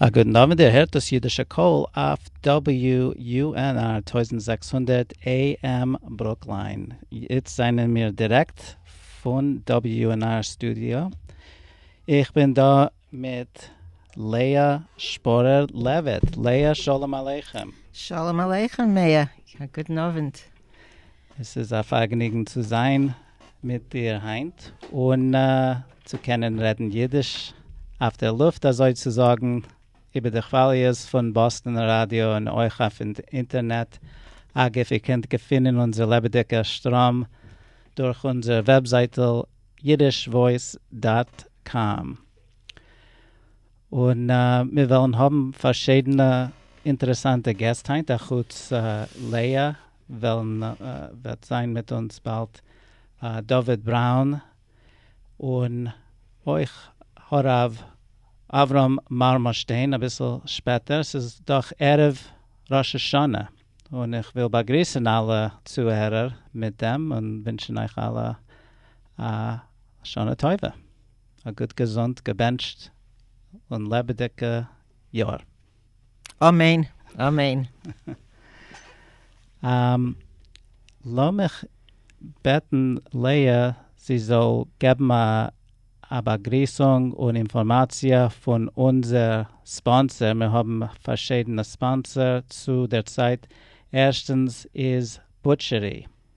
א גוטן אווענט, איר הערט דאס אידישע קול אויף WUNR טויזנט זעקס הונדערט AM ברוקליין. איצט זענען מיר דירעקט פון WUNR סטודיא. איך בין דא מיט לאה שפורער לעוויט. לאה שלום עליכם. שלום עליכם מאיר. א גוטן אווענט. עס איז א פארגעניגן צו זיין. מיט דיר היינט און צו קענען רעדן אידיש אויף דער לופט אזוי צו זאגן, איבער די כוואליעס פון באסטענער ראדיא און אויך אויף אינטערנעט, אגב איר קענט געפינען אונזער לעבעדיגער שטראם דורך אונזער וועבזייטל יידישוואויס דאט קאם, און מיר וועלן האבן פארשידענע אינטערעסאנטע געסט היינט אחוץ לאה וועלן וועט זיין מיט אונז באלד דוד בראון און אויך הרב אברהם מארמאשטיין אביסל שפעטער, ס'איז דאך ערב ראש השנה, און איך וויל באגריסען אלע צוהערער מיט דעם און ווינטשען אייך אלע א שנה טובה, א גוט געזונט געבענטשט און לעבעדיגע יאר. אמן אמן. לאמיך בעטן לאה זי זאל געבן א באגריסונג און אינפארמאציע פון אונזער ספאנסער, מיר האבן פארשידענע ספאנסער צו דער צייט, ערשטענס איז בוטשערי.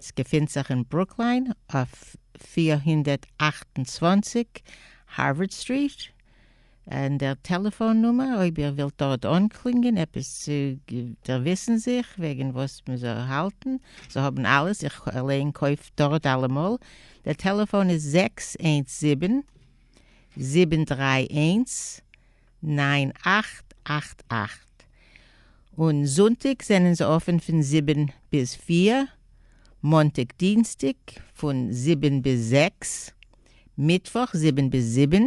ס'געפינט זיך אין ברוקליין אויף פֿיר הונדערט אַכט און צוואַנציק הארווארד סטריט, און דער טעלעפאון נומער אויב איר ווילט דארט אנקלינגען עפעס צו דערוויסן זיך וועגן וואס מען זאל האלטן, זיי האבן אלעס, איך אליין קויף דארט אלעמאל, דער טעלעפאון איז זעקס איינס זיבן, זיבן דרײַ איינס, נײַן אַכט אַכט אַכט, און זונטיק זענען זיי אפען פון זיבן ביז פֿיר, מאנטאג דינסטאג פון זיבן ביז זעקס, מיטוואך זיבן ביז זיבן,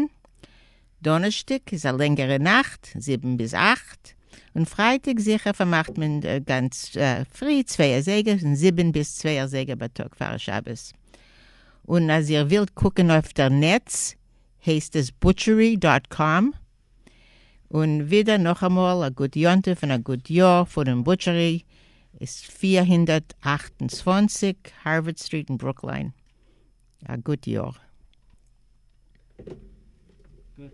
דאנערשטאג איז א לענגערע נאכט זיבן ביז אַכט, און פרייטאג זיכער פארמאכט מען גאנץ פרי צוויי אזייגער פון זיבן ביז צוויי אזייגער בייטאג פאר שבת, און אז איר ווילט קוקען אויף דער נעץ הייסט עס בוטשערי דאט קאם. און ווידער נאכאמאל א גוט יום טוב און א גוט יאר פונעם בוטשערי, איז פֿיר הונדערט אַכט און צוואַנציק הארווערד סטריט אין ברוקליין, א גוט יאר. גוט.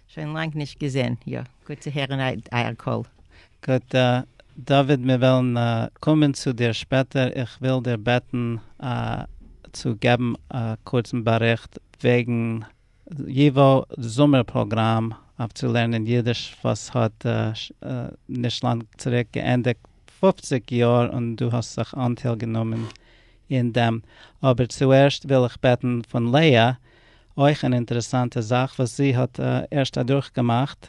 שוין לאנג נישט געזען. יא, גוט צו הערן אייער קול. גוט דוד מיר וועלן קומען צו דיר שפעטער, איך וויל דיר בעטן צו געבן א קורצן באריכט וועגן ייווא זומער פראגראם אויף צו לערנען אידיש וואס האט נישט לאנג צוריק געענדיגט פֿופֿציק יאר און דו האסט זיך אנטייל גענומען אין דעם, אבער צוערשט וויל איך בעטן פון לאה אויך אן אינטערעסאנטע זאך וואס זי האט ערשט אדורכגעמאכט,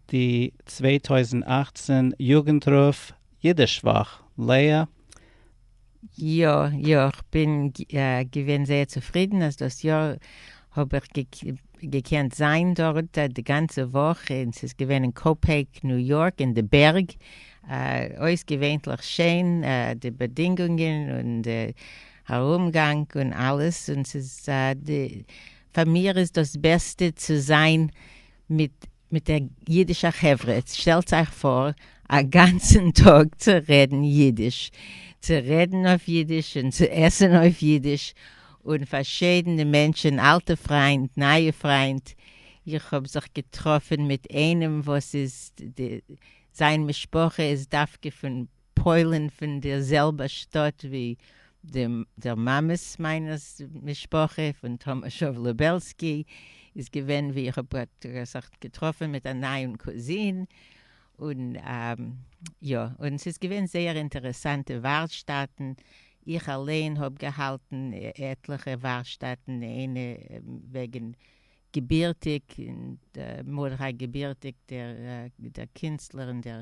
די צוויי טויזנט אַכצן יוגנטרוף אידיש וואך, לאה? יא יא, כ'בין געווען זייער צופרידן אז דאס יאר האב איך געקענט זיין דארט די גאנצע וואך, און ס'איז געווען אין קאופעיק ניו יארק אין די בערג, אויסגעווענליך שיין די באדינגונגען און די ארומגאנג און אלעס און ס'איז א די פאר מיר איז דאס בעסטע צו זיין מיט מיט דער אידישער חברה, שטעלטס אייך פאר א גאנצן טאג צו רעדן אידיש, צו רעדן אויף אידיש און צו עסן אויף אידיש, און פארשעדענע מענטשען אלטע פריינט נייע פריינט, איך האב זיך געטראפען מיט איינעם וואס איז די זיין משפחה איז דווקא פון. פוילין פון די זעלבע שטאט ווי דער מאמעס מיינערס משפחה פון טאמאשאוו לובעלסקי איז געווען ווי איך האב זיך געטראפען מיט א נייעם קוזין און יא און ס'איז געווען זייער אינטערעסאנטע ווארשטאטן איך אליין האב געהאלטן עטליכע ווארשטאטן איינע וועגען געבירטיג און מרדכי געבירטיג דער קינסטלער און דער.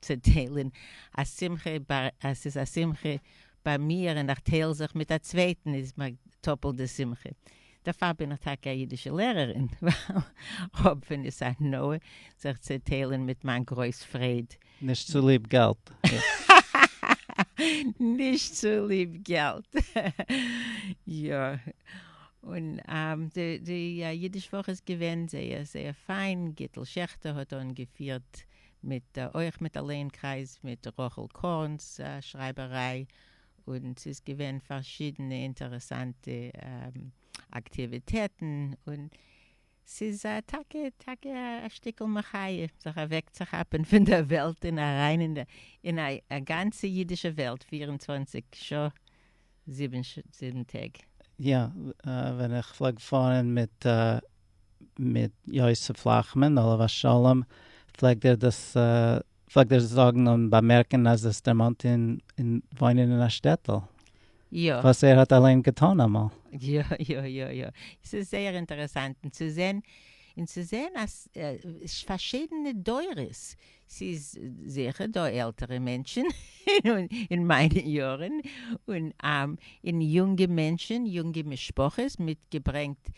צו טיילען א שמחה ביי אז ס'איז א שמחה ביי מיר און איך טייל זיך מיט א צווייטען איז מיר טאפעלט די שמחה. דערפאר בין איך טאקע א אידישע לערערין ווייל כ'האב ווען איז הנאה זיך צו טיילען מיט מיין גרויס פרעד. נישט צוליב געלט. נישט צוליב געלט. יא. און די אידיש וואך איז געווען זייער זייער פיין, גיטל שעכטער האט אנגעפירט מיט אויך מיט א לענקרייז מיט רחל קורנס שרייבעריי, און ס'איז געווען פארשידענע אינטערעסאנטע אקטיוויטעטן, און ס'איז טאקע טאקע א שטיקל מחיה זיך אוועקצוכאפען פון דער וועלט און אריין אין א גאנצע אידישע וועלט פיר און צוואנציג שעה. זיבן טעג. יא, ווען איך פלעג פארן מיט מיט יוסף לאכמאן עליו השלום פלעגט ער דאס פלעגט ער זאגן און באמערקן אז עס דערמאנט אים וואוינען אין א שטעטל, וואס ער האט אליין געטון אמאל. יא יא יא יא, עס איז זייער אינטערעסאנט און צו זען און צו זען אז פארשידענע דורות ס'איז זיכער דא עלטערע מענטשען אין מיינע יארען און אין יונגע מענטשען יונגע משפחות מיט געברענגט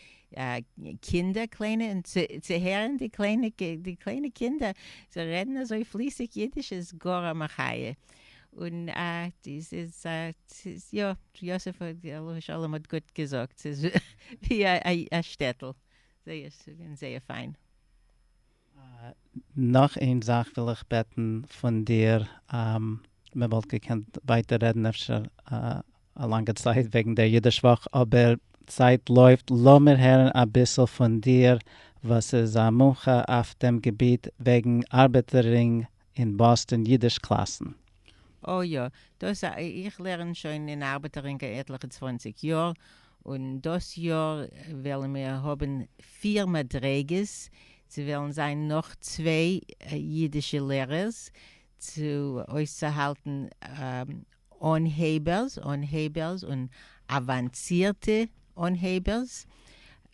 קינדער קליינע און צו הערען די קליינע קינדער זיי רעדען אזוי פליסיג אידיש איז גאר א מחיה און ס'איז יא יוסף עליו השלום האט גוט געזאגט ס'איז ווי א שטעטעל זייער פיין. נאך איין זאך וויל איך בעטן פון דיר, מען וואלט געקענט ווייטער רעדן אפשר א לאנגע צייט וועגן דער אידיש וואך, אבער צייט לויפט, לאמיר הערן אביסל פון דיר וואס איז א מומחה אויף דעם געביט וועגן ארבעטער רינג אין באסטאן אידיש קלאסן. או יא, דאס א, איך לערן שוין אין ארבעטערינקע עטליכע צוואנציג יאר, און דאס יאר וועלן מיר האבן פיר מדריגות, ס'וועלן זיין נאך צוויי אידישע לערערס צו אויסצוהאלטן אנהייבערס, אנהייבערס און אוואנצירטע אנהייבערס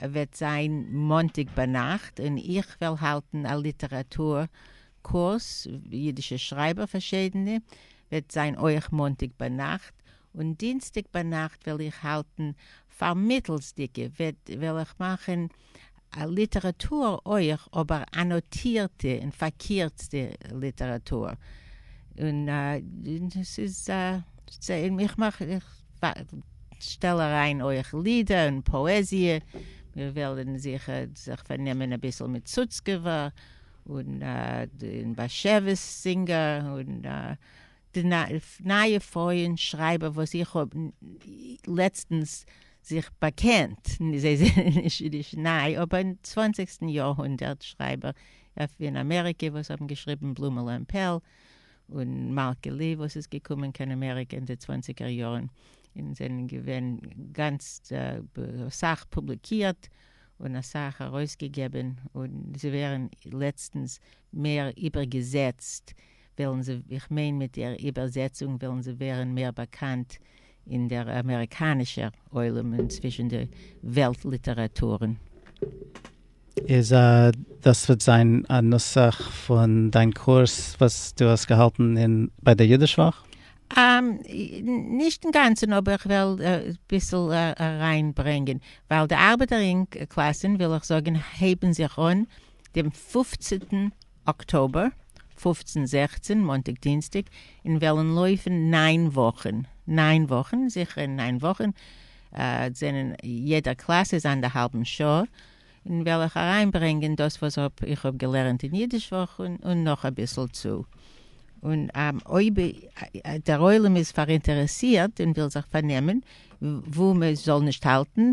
וועט זיין מאנטאג ביינאכט און איך וועל האלטן א ליטעראטור קורס, אידישע שרייבער פארשידענע, וועט זיין אויך מאנטאג ביינאכט, און דינסטאג ביינאכט וועל איך האלטן פארמיטלסדיגע וועל איך מאכן א ליטעראטור אויך אבער אנאטירטע און פארקירצטע ליטעראטור און ס'איז איך מאך איך שטעל אריין אויך לידער און פאעזיע מיר וועלן זיכער זיך פארנעמען אביסל מיט סוצקעווער און באשעוויס זינגער און. די נייע פויען שרייבער וואס איך האב לעצטנס זיך באקענט, זיי זענען נישט ניי, אבער צוואנציגסטן יאר הונדערט שרייבער אין אמעריקע וואס האבן געשריבן בלומעלע און פעל, און מלכה לי וואס איז געקומען קיין אמעריקע אין די צוואנציגער יארן און זענען געווען גאנץ אסאך פובליקירט און אסאך ארויסגעגעבען און זיי ווערן לעצטנס מער איבערגעזעצט. וועלן זיי, איך מיין מיט דער איבערזעצונג וועלן זיי ווערן מער באקאנט אין דער אמעריקאנישער עולם און צווישן די וועלט ליטעראטורן. איז דאס וועט זיין א נוסח פון דיין קורס וואס דו האסט געהאלטן אין ביי דער אידיש וואך? נישט אינגאנצן אבער איך וועל אביסל אריין ברענגען ווייל די ארבעטער אינק קלאסען וויל איך זאגען הייבען זיך אן דעם פופצענטן אקטאבער, פֿופֿצן זעכצן מאנטאג דינסטאג אין וועלען לויפען נײַן וואכען, נײַן וואכען, זיכער אין נײַן וואכען, ד זענען יעדער קלאס איז אנדערהאלבען שעה, אין וועל איך אריין ברענגען דאס וואס האב איך האב געלערענט אין אידיש וואך און און נאך אביסעל צו, און אויב דער עולם איז פאראינטערעסירט און וויל זיך פארנעמען וואו מען זאל נישט האלטען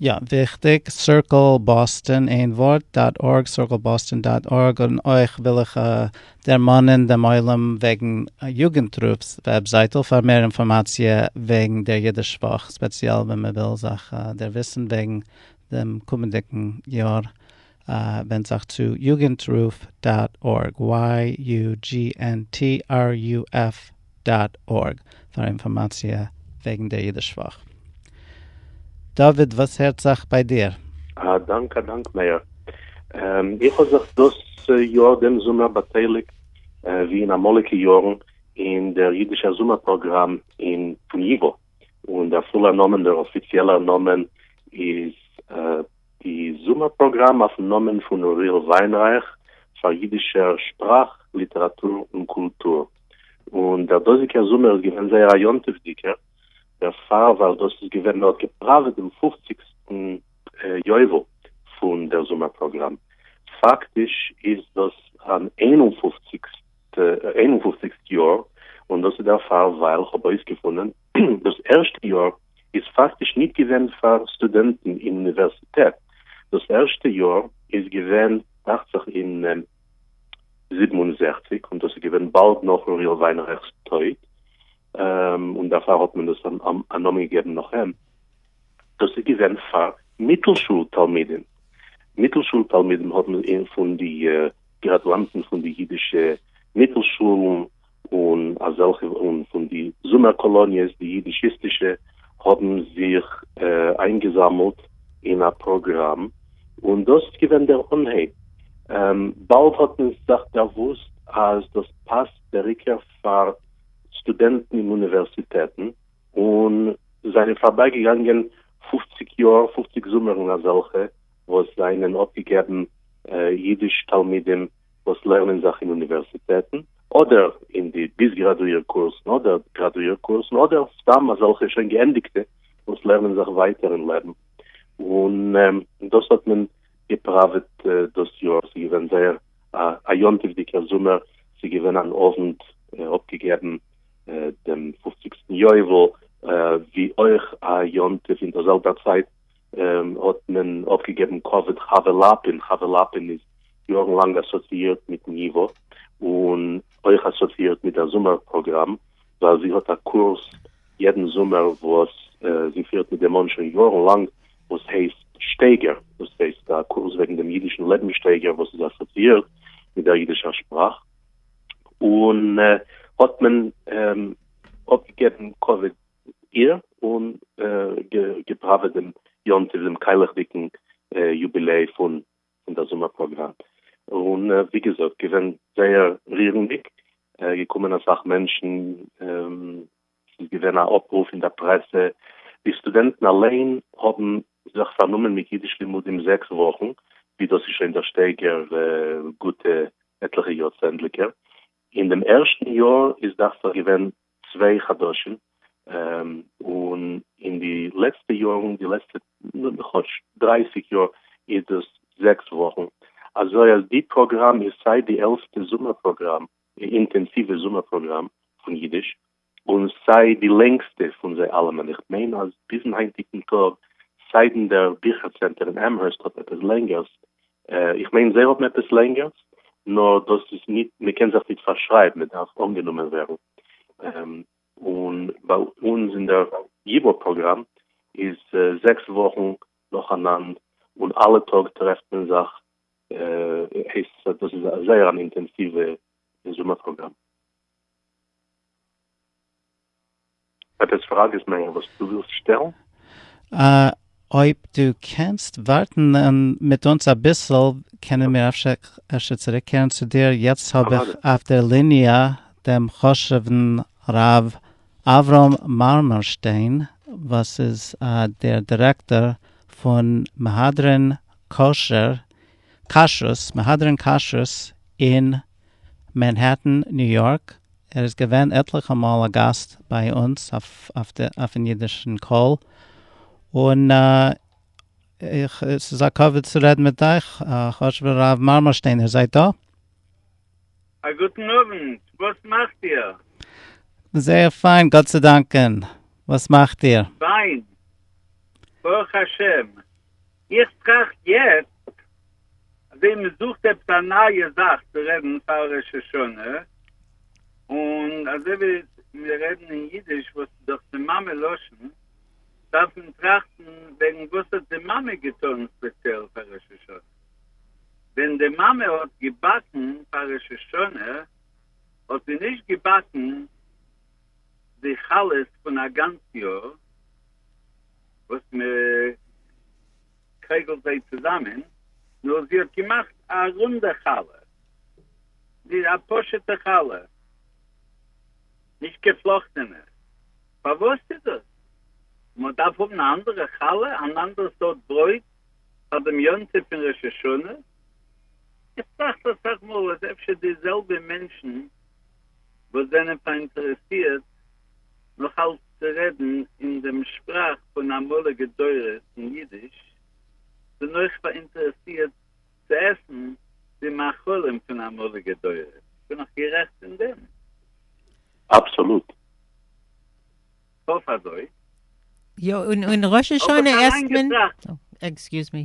יא, וויכטיג, סירקל באסטאן, איין ווארט, דאט ארג, circleboston דאט ארג, און אויך וויל איך דערמאנען דעם עולם וועגן יוגנטרופ'ס וועבזייטל פאר מער אינפארמאציע וועגן דער אידיש וואך, ספעציעל ווען מען וויל זיך דערוויסן וועגן דעם קומענדיגן יאר. ווענד זיך צו יוגענטרוף דאט ארג, YUGNTRUF דאט ארג, פאר אינפארמאציע וועגן דער אידיש וואך. דוד, וואס הערט זיך ביי דיר? א דאנק א דאנק מאיר. איך האב זיך דאס יאר דעם זומער באטייליגט ווי אין אמאליגע יארן אין דער אידישער זומער פראגראם אין פון ייווא, און דער פולער נאמען, דער אפיציעלער נאמען איז. די זומער פראגראם אויפן נאמען פון אוריאל וויינרייך פאר אידישער שפראך, ליטעראטור און קולטור, און דער דאזיגער זומער איז געווען זייער א יום טוב'דיגער, דערפאר ווייל דאס איז געווען, מען האט געפראוועט דעם פופציגסטן יובל פון דער זומער פראגראם, פאקטיש איז דאס אן איין און פופציגסט יאר, און דאס איז דערפאר ווייל כ'האב אויסגעפונען, דאס ערשטע יאר איז פאקטיש ניט געווען פאר סטודענטן אין אוניווערסיטעט, דאס ערשטע יאר איז געווען דאכט זיך אין זיבן און זעכציק און דאס איז געווען באלד נאך אוריאל וויינרייכ'ס טויט און דערפאר האט מען דאס א נאמען געגעבן נאך אים, דאס איז געווען פאר מיטל שול תלמידים, מיטל שול תלמידים האט מען פון די גראדואנטן פון די אידישע מיטל שולן און אזעלכע און פון די זומער קאלאניעס די יידישיסטישע האבן זיך איינגעזאמלט אין א פראגראם און דאס איז געווען דער אנהייב. באלד האט מען זיך דערוואוסט אז דאס פאסט בעריקער פאר סטודענטן אין אוניווערסיטעטן און זענען פארביי געגאנגען פופציג יאר פופציג זומערן אזעלכע וואס זענען אפגעגעבן יידיש תלמידים וואס לערנען זיך אין אוניווערסיטעטן, אדער אין די ביז גראדואיר קורסן, אדער גראדואיר קורסן, אדער סתם אזעלכע שוין געענדיגטע וואס לערנען זיך ווייטער אין לעבן, און דאס האט מען געפראוועט דאס יאר, ס'איז געווען זייער א יום טוב'דיגער זומער, ס'איז געווען אן אוונט אפגעגעבן דעם פופציגסטן יובל, ווי אויך א יום טוב אין דער זעלבער צייט, האט מען אויפגעגעבן קאוויד חבר לאפין, חבר לאפין איז יארן לאנג אסאציאירט מיטן ייווא, און אויך אסאציאירט מיט דער זומער פראגראם, ווייל זי האט א קורס יעדן זומער וואס זי פירט מיט דעם מאן שוין יארן לאנג, וואס הייסט שטייגער, דאס הייסט א קורס וועגן דעם אידישן לעבנסשטייגער וואס איז אסאציאירט מיט דער אידישער שפראך, און האט מען אויפגעגעבן קאוויד. איר און געפראוועט דעם יום טוב דעם קיילעכדיגן יוביליי פון דער זומער פראגראם, און ווי געזאגט געווען זייער רירנדיג, געקומען אסאך מענטשן, ס'איז געווען א אפרוף אין דער פרעסע, די סטודענטן אליין האבן זיך פארנומען מיט אידיש לימודים זעקס וואכן, ווי דאס איז שוין דער שטייגער גוטע עטליכע יארצענדליגער, אין דעם ערשטן יאר איז דאכט זיך געווען צוויי חדשים, און אין די לעצטע יארן, די לעצטע כאטש דרײַסיק יאר, איז דאס זעקס וואכן, אזוי אז די פראגראם איז סיי די עלסטע זומער פראגראם, אינטענסיווע זומער פראגראם פון אידיש, און סיי די לענגסטע פון זיי אלעמען, איך מיין אז ביזן היינטיגן טאג, סיידן דער ביכער צענטער אין עמהערסט האט עפעס לענגערס, איך מיין זיי האבן עפעס לענגערס, נאר דאס איז ניט, מען קען זיך ניט פארשרייבן, מען דארף אנגענומען ווערן, און ביי אונז אין דער ייווא פראגראם איז זעקס וואכן נאכאנאנד, און אלע טאג טרעפט מען זיך, דאס איז זייער אן אינטענסיווע זומער פראגראם. עפעס פראגעס מער וואס דו ווילסט שטעלן? אויב דו קענסט ווארטן מיט אונז אביסל קענען מיר אפשר צוריקקערן צו דיר, יעצט האב איך אויף דער ליניע דעם חשוב'ן ר' אברהם מארמארשטיין וואס איז דער דירעקטאר פון מהדרין כשרות אין מענהעטן, ניו יארק, ער איז געווען עטליכע מאל א גאסט ביי אונז אויפן אידישן קול, און איך ס'איז א כבוד צו רעדן מיט אייך, חשוב'ער הרב מארמארשטיין, איר זייט דא? א גוטן אוונט, וואס מאכט איר? זייער פיין, גאט צו דאנקען, וואס מאכט איר? פיין, ברוך השם. איך טראכט יעצט אז ווען מען זוכט עפעס א נייע זאך צו רעדן פאר ראש השנה, און אזוי ווי מיר רעדן אין אידיש וואס איז דאך די מאמע לשון, דארף מען טראכטן וועגן וואס האט די מאמע געטון ספעציעל פאר ראש השנה. ווען די מאמע האט געבאקן פאר ראש השנה האט זי נישט געבאקן די חלות פון א גאנץ יאר, וואס מ'קייגלט זיי צוזאמען, נאר זי האט געמאכט א רונדע חלה, א פשוט'ע חלה, נישט געפלאכטענע, פארוואס איז דאס? מ'דארף האבן א אנדערע חלה, אן אנדערע סארט ברויט פאר דעם יום טוב פון ראש השנה? איך טראכט אסאך מאל אז אפשר די זעלבע מענטשן וואס זענען פאראינטערעסירט נאך אלץ צו רעדן אין דעם שפראך פון אמאליגע דורות אין אידיש, כ'בין אויך פאראינטערעסירט צו עסן די מאכלים פון אמאליגע דורות, בין איך גערעכט אין דעם? אבסאלוט. כ'האף אזוי. יא, און ראש השנה עסט מען.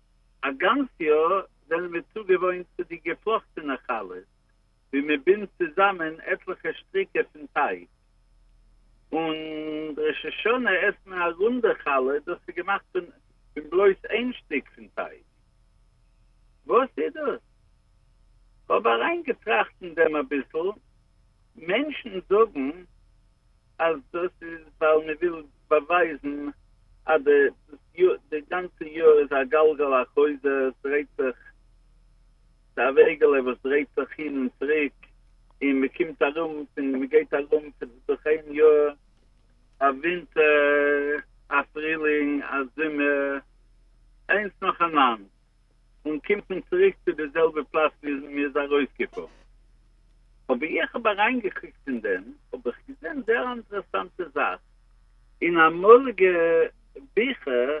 א גאנץ יאר זענען מיר צוגעוואוינט צו די געפלאכטענע חלות ווי מען בינדט צוזאמען עטליכע שטריקער פון טייג, און ראש השנה עסט מען א רונדע חלה, דאס איז געמאכט פון פון בלויז איין שטיק פון טייג. וואס איז דאס? כ'האב אריינגעטראכט אין דעם אביסל, מענטשן זאגן, אז דאס איז ווייל מען וויל באווייזן אז די די גאנצע יאר איז א גלגל החוזר, עס דרייט זיך, ס'איז א וועגעלע וואס דרייט זיך הין און צוריק, און מען קומט ארום פון, מען גייט ארום פון, דורך איין יאר, א ווינטער, א פרילינג, א זומער, איינס נאכאנאנד, און קומט מען צוריק צו די זעלבע פלאץ ווי מען איז ארויסגעפארן. אבער איך האב אריינגעקוקט אין דעם האב איך געזען זייער אנטערעסאנטע זאך, אין אמאליגע ביכער,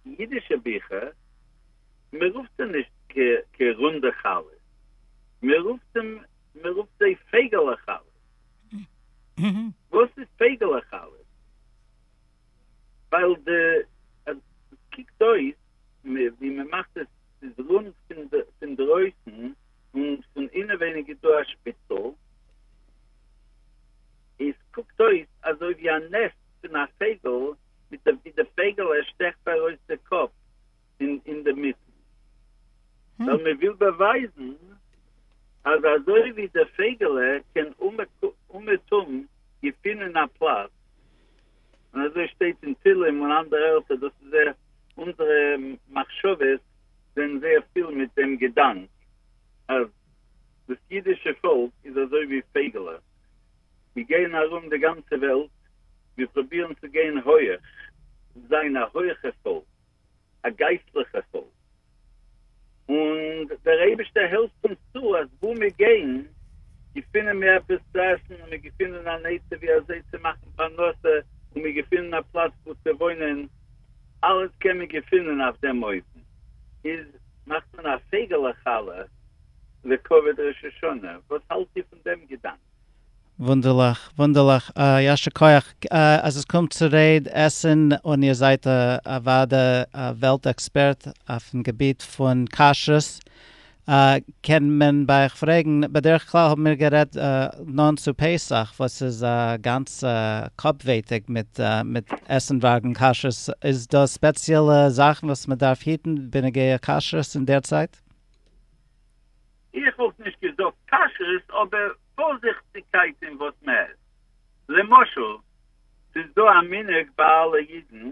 אידישע ביכער, מען רופט זיי נישט ק ק רונדע חלות, מען רופט מען רופט זיי פייגעלע חלות. וואס איז פייגעלע חלות? ווייל די אז ס'קוקט אויס ווי מ'מאכט עס ס'איז רונד פונדרויסן און פון אינעווייניג איז דא א שפיצל, און ס'קוקט אויס אזוי ווי א נעסט פון א פייגל ווי די פייגל ער שטעכט ארויס די קאפ. אין אין די מיט ווייל מען וויל באווייזן אז אזוי ווי די פייגעלע קען אומעטום געפינען א פלאץ און אזוי שטייט אין תהלים און אנדערע ערטער דאס איז זייער אונזערע מחשבות זענען זייער פיל מיט דעם געדאנק אז דאס אידישע פאלק איז אזוי ווי פייגעלע מיר גייען ארום די גאנצע וועלט מיר פרובירן צו גיין הויעך זיין א הויעכע פאלק. א גייסטליכע חוב, און דער אייבישטער העלפט אונז צו אז וואו מיר גייען געפינען מיר עפעס צו עסן, און מיר געפינען אן עצה ווי אזוי צו מאכן פרנסה, און מיר געפינען א פלאץ וואו צו וואוינען, אלעס קען מען געפינען אויף דעם אופן. איז מאכט מען א פייגעלע חלה לכבוד ראש השנה, וואס האלט איר פון דעם געדאנק? וואונדערליך, וואונדערליך, יישר כח אז עס קומט צו רעד עסן און איר זייט אוודאי א וועלט עקספערט אויפן געביט פון כשרות, קען מען ביי אייך פרעגן, בדרך כלל האבן מיר גערעדט נאנט צו פסח וואס איז א גאנץ קאפווייטיג מיט מיט עסן וועגן כשרות, איז דא ספעציעלע זאכן וואס מען דארף היטן בנוגע כשרות אין דער צייט? איך וואלט נישט געזאגט כשרות אבער פארזיכטיגקייט אין וואס מ'עסט, למשל ס'איז דא א מנהג ביי אלע אידן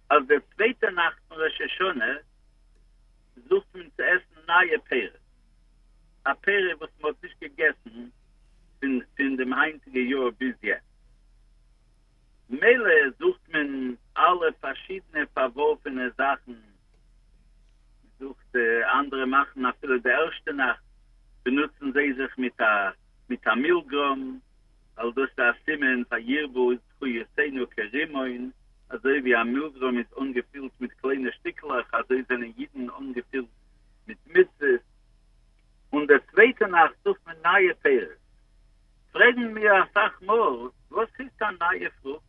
אז די צווייטע נאכט פון ראש השנה זוכט מען צו עסן נייע פירות, א פירות וואס מ'האט נישט געגעסן פון דעם היינטיגע יאר ביז יעצט. ממילא זוכט מען אלע פארשידענע פארווארפענע זאכן, מען זוכט אנדערע מאכן אפילו די ערשטע נאכט באנוצן זיי זיך מיט א מיט א מילגרוים, ווייל דאס איז א סימן פאר ירבו זכויותינו כרימון, אזוי ווי א מילגרוים איז אנגעפילט מיט קליינע שטיקלעך אזוי זענען אידן אנגעפילט מיט מצוות, און די צווייטע נאכט זוכט מען נייע פירות. פרעגן מיר אסאך מאל וואס הייסט א נייע פרוכט?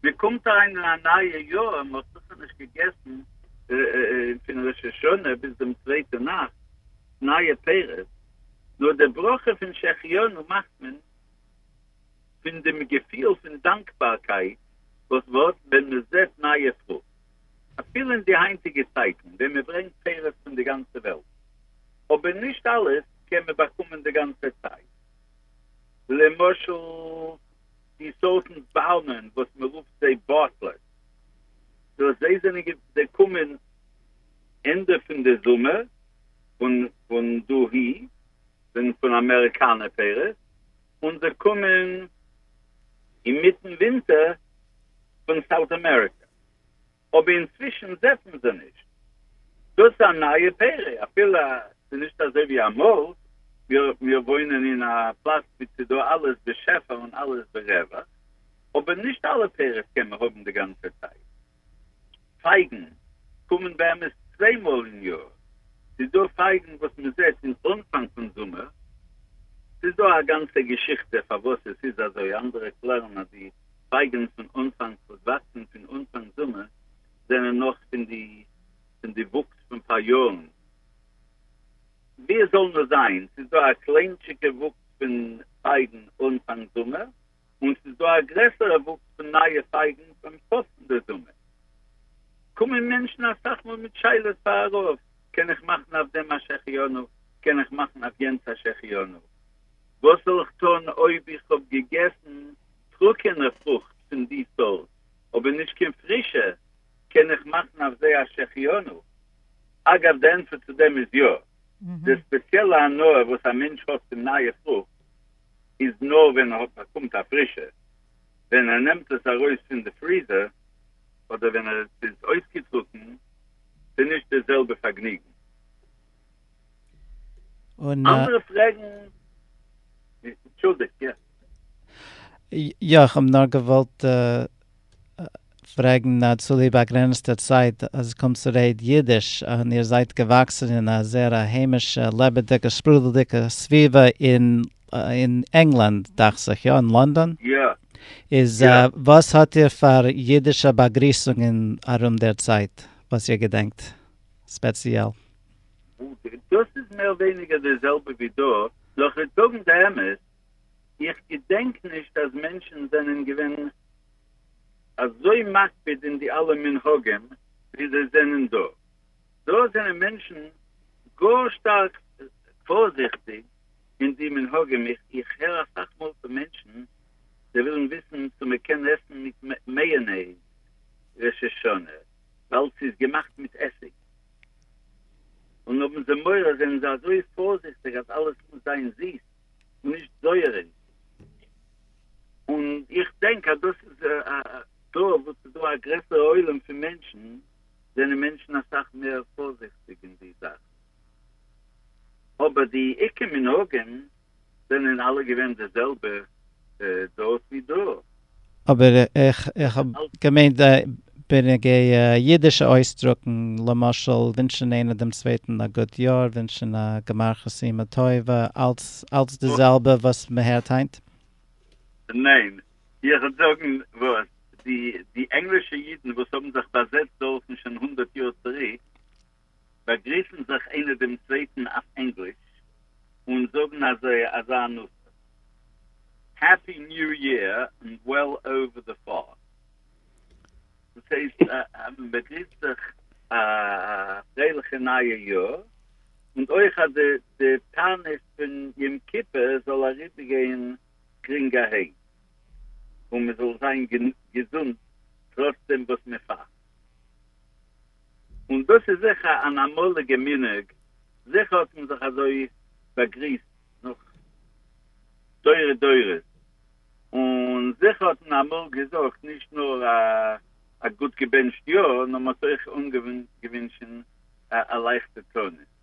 מען קומט אריין אין א נייע יאר, מען האט זיכער נישט געגעסן פון ראש השנה ביז דעם צווייטע נאכט נייע פירות, נאר די ברכה פון שהחיינו מאכט מען פון דעם געפיל פון דאנקבארקייט וואס ווארט ווען מען זעט נייע פרוכט. אפילו אין די היינטיגע צייטן ווען מען ברענגט פירות פון די גאנצע וועלט, אבער נישט אלעס קען מען באקומען די גאנצע צייט. למשל די סארטן באלמען וואס מען רופט זיי באטלעס, דאס זיי זענען זיי קומען ענדע פון די זומער פון פון דאהי זענען פון אמעריקאנע פירות, און זיי קומען אינמיטן ווינטער פון סאוט אמעריקא. אבער אינצווישן זעט מען זיי נישט. דאס איז א נייע פרא, אפילו ס'איז נישט אזוי ווי אמאל, מיר וואוינען אין א פלאץ ווי ס'איז דא אלעס בשפע און אלעס ברווח, אבער נישט אלע פירות קען מען האבן די גאנצע צייט. פייגן קומען באמת צוויי מאל אין יאר, ס'איז דא פייגן וואס מען זעט אין אנפאנג פון זומער, ס'איז דא א גאנצע געשיכטע פארוואס עס איז אזוי, אנדערע קלערן אז די פייגען פון אנפאנג וואס וואקסען פון אנפאנג זומער זענען נאך פון די פון די וואוקס פון פאריארן ווי עס זאל נאר זיין ס'איז דא א קליינטשיגע וואוקס פון פייגען אנפאנג זומער און ס'איז דא א גרעסערע וואוקס פון נייע פייגען ביים סוף פון די זומער קומען מענטשן אסאך מאל מיט שאלות פאר א רב קען איך מאכן אויף דעם א שהחיינו קען איך מאכן אויף יענץ א שהחיינו וואס זאל איך טון אויב איך האב געגעסן טרוקענע פרוכט פון די סארט, אבער נישט קיין פרישע, קען איך מאכן אויף זיי א שהחיינו. אגב, די ענטפער צו דעם איז יא. די ספעציעלע הנאה וואס א מענטש האט פון נייע פרוכט איז נאר ווען ער האט באקומט א פרישע, ווען ער נעמט עס ארויס פון די פריזער, אדער ווען עס איז אויסגעטרוקן, ס'נישט די זעלבע פארגניגן. אנדערע פרעגן? אנטשולדיגט, יא. יא, איך האב נאר געוואלט פרעגן אז צוליב באגרעניצטע צייט אז קומט צו רעד אידיש און איר זייט געוואקסן אין א זעהר א היימישע לעבעדיגע שפרודלדיגע סביבה אין אין ענגלאנד דאכט זיך יא אין לאנדאן איז וואס האט איר פאר אידישע באגריסונגען ארום דער צייט וואס איר געדענקט ספעציעל? דאס איז מער ווייניגער די זעלבע ווי דא, נאר כ'וועט זאגן די אמת, איך געדענק נישט אז מענטשן זענען געווען אזוי מקפיד אין די אלע מנהגים ווי זיי זענען דא, דא זענען מענטשן גאר שטארק פארזיכטיג אין די מנהגים, איך הער אסאך מאל פון מענטשן זיי ווילן וויסן צו מען קען עסן מיט מעיאנעיז ראש השנה ווייל ס'איז געמאכט מיט עסיג, און האבן זיי מורא זענען זיי אזוי פארזיכטיג אז אלעס מוז זיין זיס. נישט זויער אין און איך דענק אז דאס איז דא וואס איז דא א גרעסערע עולם פון מענטשן זענען מענטשן אסאך מער פארזיכטיג אין די זאכן אבער די עיקר מנהגים זענען אלע געווען די זעלבע דארט ווי דא אבער איך האב געמיינט בנוגע אידישע אויסדרוקן, למשל ווינטשן איינער דעם צווייטן א גוט יאר, ווינטשן א גמר חתימה טובה, אלץ די זעלבע וואס מען הערט היינט? ניין, איך וועל זאגן וואס, די ענגלישע אידן וואס האבן זיך באזעצט דארטן שוין הונדערט יאר צוריק, באגריסן זיך איינער דעם צווייטן אויף ענגליש און זאגן אזוי אזא נושא העפי ניו יער און וועל אווער די פאר. דאס הייסט אז מען באגריסט זיך א פרייליכע נייע יאר און אויך אז די תענית פון יום כיפור זאל אריבער גיין גרינג אהן און מען זאל זיין געזונט טראץ דעם וואס מען פאסט. און דאס איז זיכער אן אמאליגע מנהג, זיכער האט מען זיך אזוי באגריסט נאך דורי דורות, און זיכער האט מען אמאל געזאגט נישט נאר א גוט געבענטשט יאר, נאר מען האט אויך אנגעווינטשן א לייכטע תענית.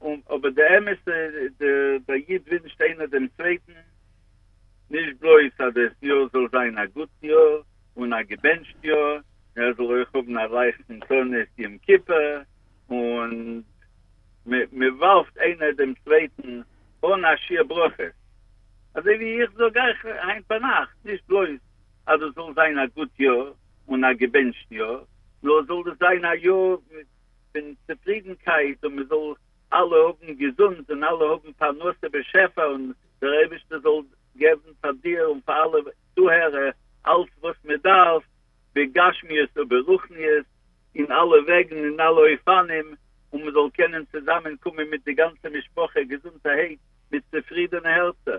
און אבער די אמת די די איד ווינטשט איינער דעם צווייטן נישט בלויז אז דאס יאר זאל זיין א גוט יאר און א געבענטשט יאר נאר ער זאל אויך האבן א לייכטן תענית יום כיפור און מען ווארפט איינער דעם צווייטן אן א שיעור ברכות אזוי ווי איך זאג אייך היינט ביינאכט נישט בלויז אז דאס זאל זיין א גוט יאר און א געבענטשט יאר נאר זאל דאס זיין א יאר מיט פון צופרידנקייט און מען זאל אלע האבן געזונט און אלע האבן פרנסה בשפע און דער אייבערשטער זאל געבן פאר דיר און פאר אלע צוהערער אלץ וואס מען דארף בגשמיות וברוחניות אין אלע וועגן אין אלע אופנים און מען זאל קענען צוזאמען קומען מיט די גאנצע משפחה געזונטערהייט מיט צופרידענע הערצער.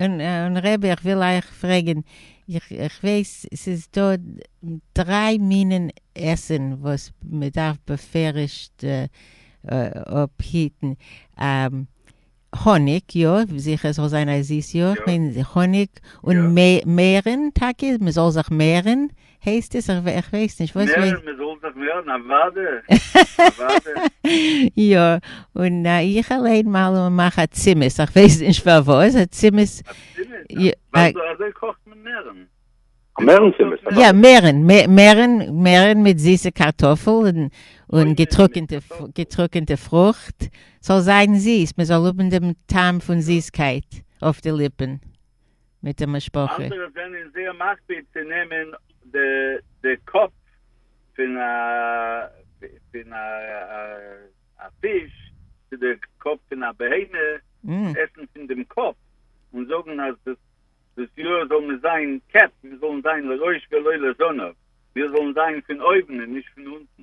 און רבי איך וויל אייך פרעגען, איך ווייס ס'איז דא דריי מינען עסען וואס מען דארף בפירוש'ט אפהיטען, האניג יא, זיכער ס'זאל זיין א זיס יאך, האניג און מערען טאקע, מען זאל זיך מערען. הייסט עס איך איך ווייס נישט וואס ווייס. נער מ'זאל זיך ווערן א וואדע א וואדע. יא און איך אליין מאל און מאך א צימעס איך ווייס נישט פארוואס א צימעס. א צימעס? אזוי קאכט מען מערן. א מערן צימעס? יא מערן מערן מערן מיט זיסע קארטאפל און געטרוקענטע געטרוקענטע פרוכט ס'זאל זיין זיס מ'זאל האבן דעם טעם פון זיסקייט אויף די ליפן. מיט די משפחה. אנדערע זענען זייער מקפיד צו נעמען די קאפ פון א פיש צו די קאפ פון א בהמה, עסן פון דעם קאפ, און זאגן אז דאס יאר זאל מיר זיין קעפ, מיר זאלן זיין לראש ולא לזנב, מיר זאלן זיין פון אויבן און נישט פון אונטן.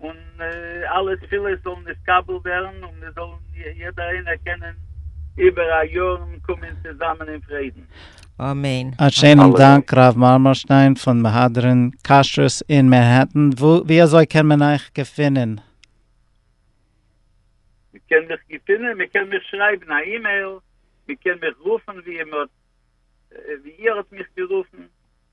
און אלע תפילות זאלן נתקבל ווערן און מיר זאלן יעדער איינער קענען איבער א יארן קומען צוזאמען אין פרידן. אמן. א שיינעם דאנק ר' מארמארשטיין פון מהדרין כשרות אין מענהעטן, ווי אזוי קען מען אייך געפינען? מען קען מיך געפינען, מען קען מיך שרייבן א אימעיל, מען קען מיך רופן ווי איר האט מיך גערופן.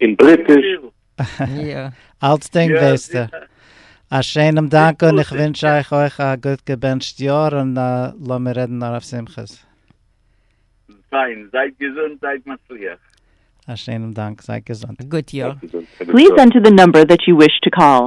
אין בריטיש. אלצדינג וועסטו. א שיינעם דאנק און איך ווינטש אייך אויך א גוט געבענטשט יאר און לאמיר רעדן נאר אויף שמחות. פיין, זייט געזונט זייט מצליח. א שיינעם דאנק, זייט געזונט. גוט יאר. פליז ענטער די נומבער דעט יו וויש טו קאל.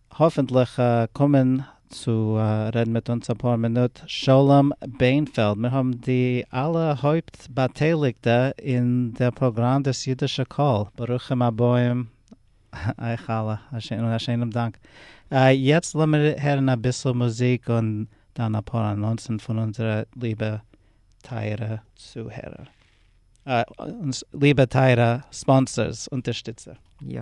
האפענטליך קומען צו רעדן מיט אונז אפאר מינוט שלום בענפעלד, מיר האבן די אלע הויפט באטייליגטע אין דער פראגראם דאס אידישע קול, ברוכים הבאים אייך אלע, און א שענעם דאנק. יעצט לאמיר הערן אביסל מוזיק און דאן אפאר אנאנסן פון אונזערע ליבע טייערע צוהערער, אונז ליבע טייערע ספאנסערס, אונטערשטיצער. יא.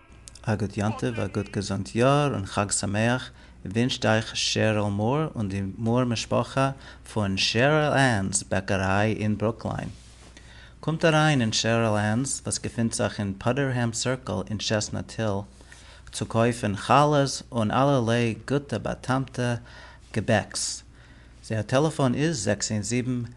א גוט יום טוב, א גוט געזונט יאר און חג שמח ווינטשט אייך שעריל מאר און די מאר משפחה פון שעריל ענס בעקעריי אין ברוקליין. קומט אריין אין שעריל ענס וואס געפינט זיך אין פאדערהעם סירקל אין טשעסנאט היל צו קויפן חלות און אלערליי גוטע באטעמטע געבעקס. זייער טעלעפאן איז זעקס איין זיבן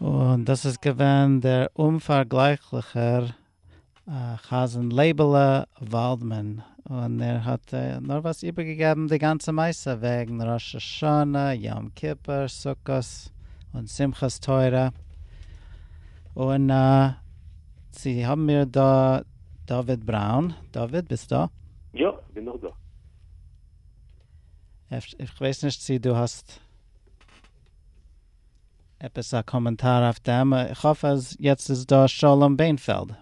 און דאס איז געווען דער אומפארגלייכליכער חזן לייבעלע וואלדמאן, און ער האט נארוואס איבערגעגעבן די גאנצע מעשה וועגן ראש השנה, יום כיפור, סוכות, און שמחת תורה, און. צו האבן מיר דא דוד בראון, דוד ביסט דא? יא, כ'בין נאך דא. אפש איך ווייס נישט צו דו האסט עפעס א קאמענטאר אויף דעם, איך האף אז יעצט איז דא שלום בענפעלד,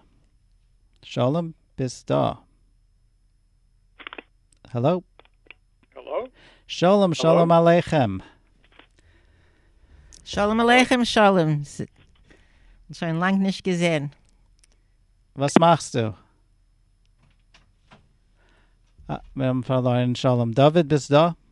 שלום ביסט דא? העלאו. העלאו. שלום שלום עליכם. שלום עליכם שלום. שוין לאנג נישט געזען. וואס מאכסטו? אה, מיר האבן פארלוירן שלום. דוד ביסט דא?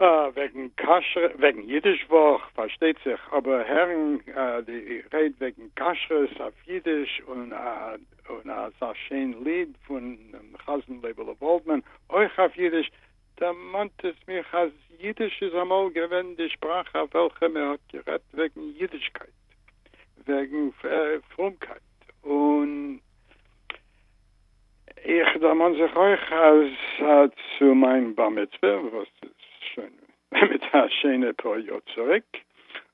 אה, וועגן כשר'ע, וועגן אידיש וואך פארשטייט זיך, אבער הערן די רייד וועגן כשרות אויף אידיש און אזא שיין ליד פון חזן לייבעלע וואלדמאן אויך אויף אידיש, דערמאנט עס מיך אז אידיש איז אמאל געווען די שפראך אויף וועלכע מען האט גערעדט וועגן אידישקייט, וועגן פרומקייט און. איך דערמאן זיך אויך אז צו מיין בר מצוה וואס איז שוין באמת א שיינע פאר יאר צוריק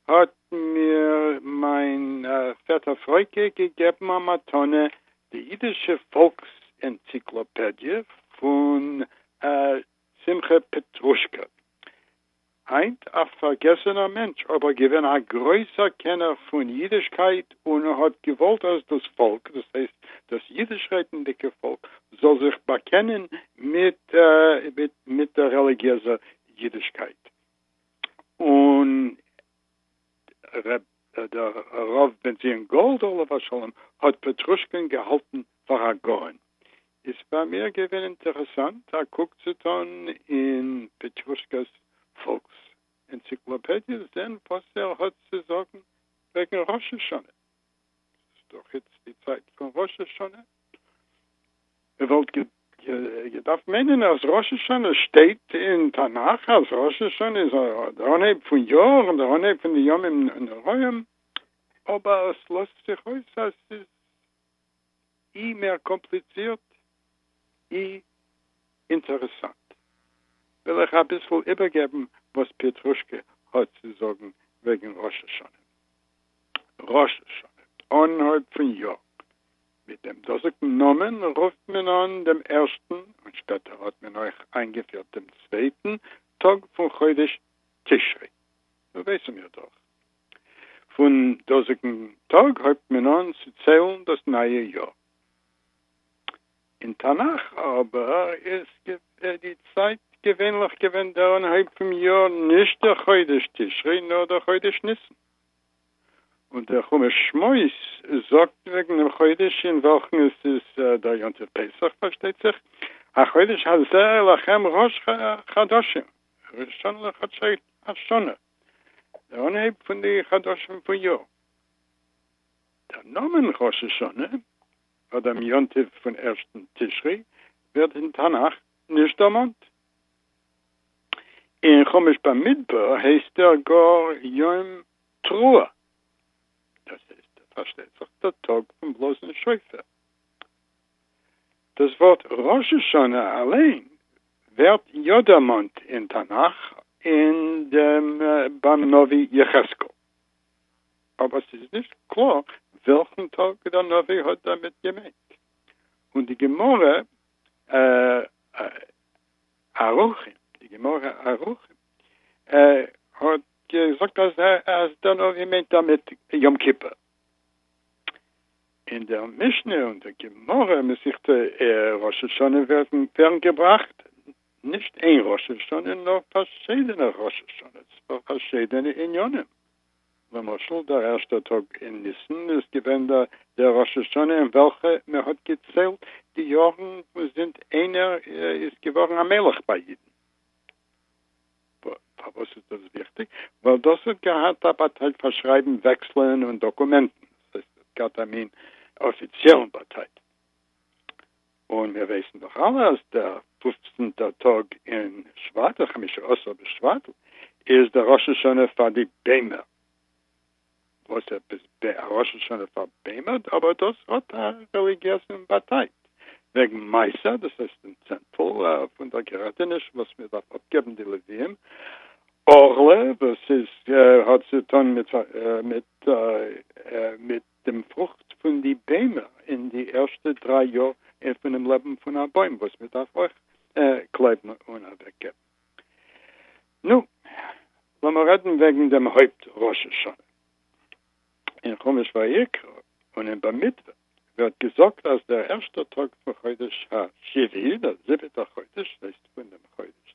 האט מיר מיין פעטער פרעוטה געגעבן א מתנה די אידישע פאלקס ענציקלאפעדיע פון שמחה פעטרושקא. היינט א פארגעסענער מענטש אבער געווען א גרויסער קענער פון אידישקייט און האט געוואלט אז דאס פאלק דאס הייסט דאס אידיש רעדנדיגע פאלק זאל זיך באקענען מיט דער רעליגיעזער אידישקייט און דער רב בן ציון גאלד עליו השלום האט פעטרושקען געהאלטן פאר א גאון, איז פאר מיר געווען אינטערעסאנט א קוק צו טאן אין פעטרושקע'ס פאלקס ענציקלאפעדיע זען וואס ער האט צו זאגן וועגן ראש השנה. ס'איז דאך איצט די צייט פון ראש השנה. מ'וואלט געדארפט מיינען אז ראש השנה שטייט אין תנך אז ראש השנה איז דער אנהייב פון יאר און דער אנהייב פון די ימים נוראים, אבער עס לאזט זיך אויס אז ס'איז אי מער קאמפליצירט אי אינטערעסאנט. וויל איך אביסל איבערגעבן וואס פיעטרושקע האט צו זאגן וועגן ראש השנה. ראש השנה, אנהויב פון יאר, מיט דעם דאזיגן נאמען רופט מען אן דעם ערשטן, און שפעטער האט מען אויך איינגעפירט דעם צווייטן, טאג פון חודש תשרי, דא ווייסן מיר דאך. פון דאזיגן טאג הויבט מען אן צו ציילן דאס נייע יאר. אין תנך אבער איז די צייט געווענליך געווען דער אנהויב פון יאר, נישט דער חודש תשרי, נאר דער חודש ניסן. און דער חומש שמות זאגט וועגן דעם חודש אין וועלכן עס איז דער יום טוב פסח, פארשטייט זיך, החודש הזה לכם ראש חדשים, ראשון לחדשי השנה, דער אנהייב פון די חדשים פון יאר. דער נאמען ראש השנה, פאר דעם יום טוב פון ערשטן תשרי, ווערט אין תנך נישט דערמאנט, אין חומש במדבר הייסט ער גאר יום תרועה, דאס הייסט פארשטייט זיך דער טאג פון בלאזן שופר. דאס ווארט ראש השנה אליין ווערט יא דערמאנט אין תנך אין דעם ביים נביא יחזקאל, אבער ס'איז נישט קלאר וועלכן טאג דער נביא האט דערמיט געמיינט, און די גמרא ערוכים, די גמרא ערוכים, האט געזאגט אז אז דער נביא מיינט דערמיט יום כיפור, אין דער משנה און דער גמרא מסכת ראש השנה ווערן געבראכט נישט איין ראש השנה נאר פארשידענע ראש השנה'ס פאר פארשידענע עניינים. למשל דער ערשטער טאג אין ניסן איז געווען דער ראש השנה אין וועלכע מען האט געציילט די יארן פון זינט איינער איז געווארן א מלך ביי אידן. פארוואס איז דאס וויכטיג? ווייל דאס האט געהאט א באטייט פאר שרייבן וועקסלען און דאקומענטן, דאס הייסט עס האט געהאט א מין אפיציעלן באטייט. און מיר ווייסן דאך אלע אז דער פופצנטער טאג אין שבט, חמשה עשר בשבט, איז דער ראש השנה פאר די ביימער. וואס עפעס ב ה ראש השנה פאר ביימער? אבער דאס האט א רעליגיעזן באטייט. וועגן מעשר, דאס הייסט דעם צענטל פון דער געראטעניש וואס מען דארף אפגעבן די לוויים. עורלה, וואס איז האט צו טון מיט דעם פרוכט פון די ביימער אין די ערשטע דריי יאר פונעם לעבן פון א בוים וואס מען דארף אויך קלעבן און אוועק געבן. נו, לאמיר רעדן וועגן דעם הויפט ראש השנה. אין חומש ויקרא און אין במדבר ווערט געזאגט אז דער ערשטער טאג פון חודש השביעי, דער זיבעטער חודש, הייסט פון דעם חודש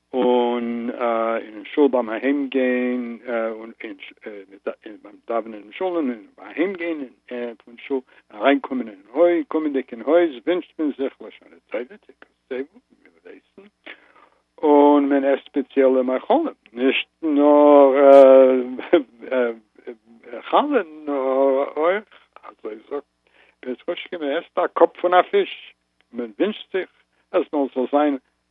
און אין שול ביים אהיים גיין און ביים דאווענען אין שול און אהיים גיין פון שול אריין קומען אין הויז, קומענדיג אין הויז ווינטשט מען זיך לשנה טובה, תקוות טובות, מען וויל עסן, און מען עסט ספעציעלע מאכלים, נישט נאר חלה נאר אויך, אזוי זאגט ר' רושקע, מען עסט א קאפ פון א פיש, מען ווינטשט זיך אז מען זאל זיין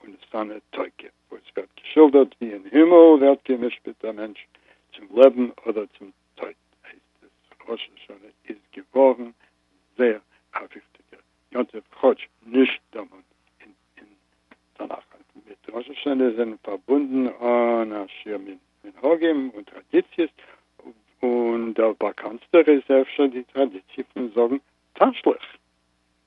און איז פאַנע תוקף, וואו עס ווערט געשילדערט ווי אין הימל ווערט גע'משפּט דער מענטש צום לעבן אָדער צום טויט, הייסט עס, ראש השנה איז געוואָרן זייער אַ וויכטיקער יום-טוב, כאָטש נישט דערמאָנט אין תנך. מיט ראש השנה זענען פאַרבונדן אַן אַ שיעור מנהגים און טראַדיציעס, און דער באַקאַנטסטער איז אפשר די טראַדיציע פון זאָגן תשליך.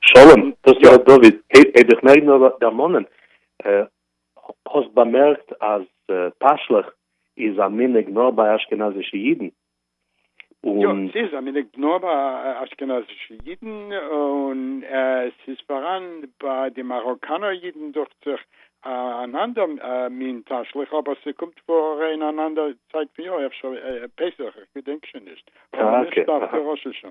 שלום, דאס איז ר' דוד, העב איך מער נאר דערמאנען, האסט באמערקט אז תשליך איז א מנהג נאר ביי אשכנזישע אידן? יא, ס'איז א מנהג נאר ביי אשכנזישע אידן, און ס'איז פאראן ביי די מאראקאנער אידן דוכט זיך אן אנדער מין תשליך, אבער ס'קומט פאר אין אן אנדער צייט פון יאר, אפשר פסח, איך געדענק שוין נישט, אבער נישט דווקא ראש השנה.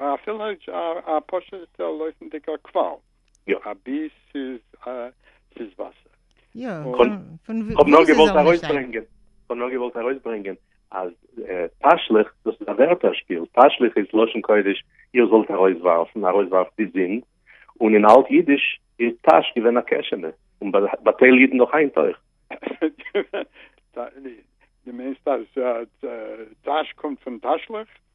א פילעדזש א פשוטע לויפענדיגע קוואל. יא. א ביס איז א ס'איז וואסער. יא, פון פון ווי איז עס זאל נישט זיין. כ'האב נאר געוואלט ארויסברענגען אז תשליך דאס איז א ווערטער שפיל, תשליך איז לשון קודש איר זאלט ארויסווארפן, ארויסווארפט די זינד, און אין אלט אידיש איז תש געווען א קעשענע, און ביי טייל אידן נאך היינט אויך. די מיינסט אז תש קומט פון תשליך?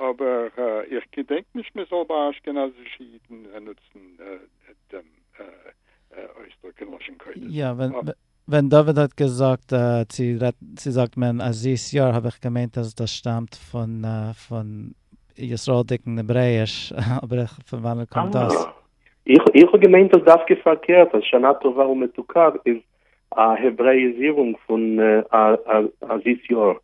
אבער איך געדענק נישט מען זאל ביי אשכנזישע אידן נוצן דעם אויסדרוק אין לשון קודש. יא, ווען דוד האט געזאגט צו צו זאגט מען א זיס יאר האב איך געמיינט אז דאס שטאמט פון פון ישראל'דיגן העברעאיש, אבער איך פון וואנעט קומט דאס? איך האב געמיינט אז דווקא פארקערט אז שנה טובה ומתוקה איז א העברעאיזירונג פון א זיס יאר.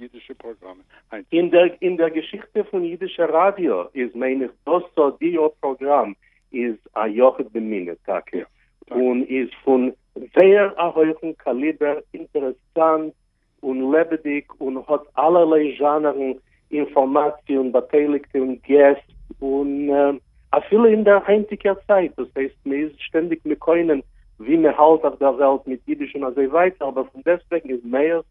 אידישע פראגראמען היינט. אין דער געשיכטע פון אידישע ראדיא איז מיין איך דאס אודיאו פראגראם איז א יחיד במינו טאקע, און איז פון זייער א הויכן קאליבער, אינטערעסאנט און לעבעדיג, און האט אלערליי זשאנערן אינפארמאציע און באטייליגטע און געסט, און אפילו אין דער היינטיגער צייט, דאס הייסט מען איז שטענדיג מקונן ווי מען האלט אויף דער וועלט מיט אידיש און אזוי ווייטער, אבער פון דעסטוועגן איז מאיר'ס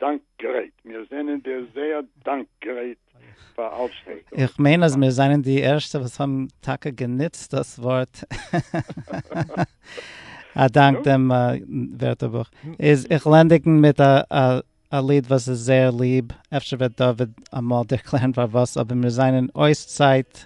דאנק גרייט, מיר זענען דיר זייער דאנק גרייט פאר אלץ וואס דו איך מיין אז מיר זענען די ערשטע וואס האבן טאקע גענוצט דאס ווארט א דאנק דעם ווערטערבוך איז איך לענדיגן מיט א ליד וואס איז זייער ליב אפשר וועט דוד אמאל ערקלערן פארוואס אבער מיר זענען אויס צייט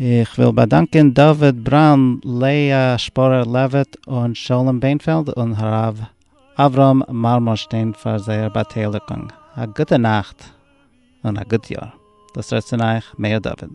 איך וויל באדאנקען דוד בראון, לאה שפורער לעוויט, און שלום בענפעלד און הרב אברהם מארמארשטיין פאר זייער באטייליגונג. א גוטע נאכט און א גוט יאר. דאס רעדט צון אייך מאיר דוד.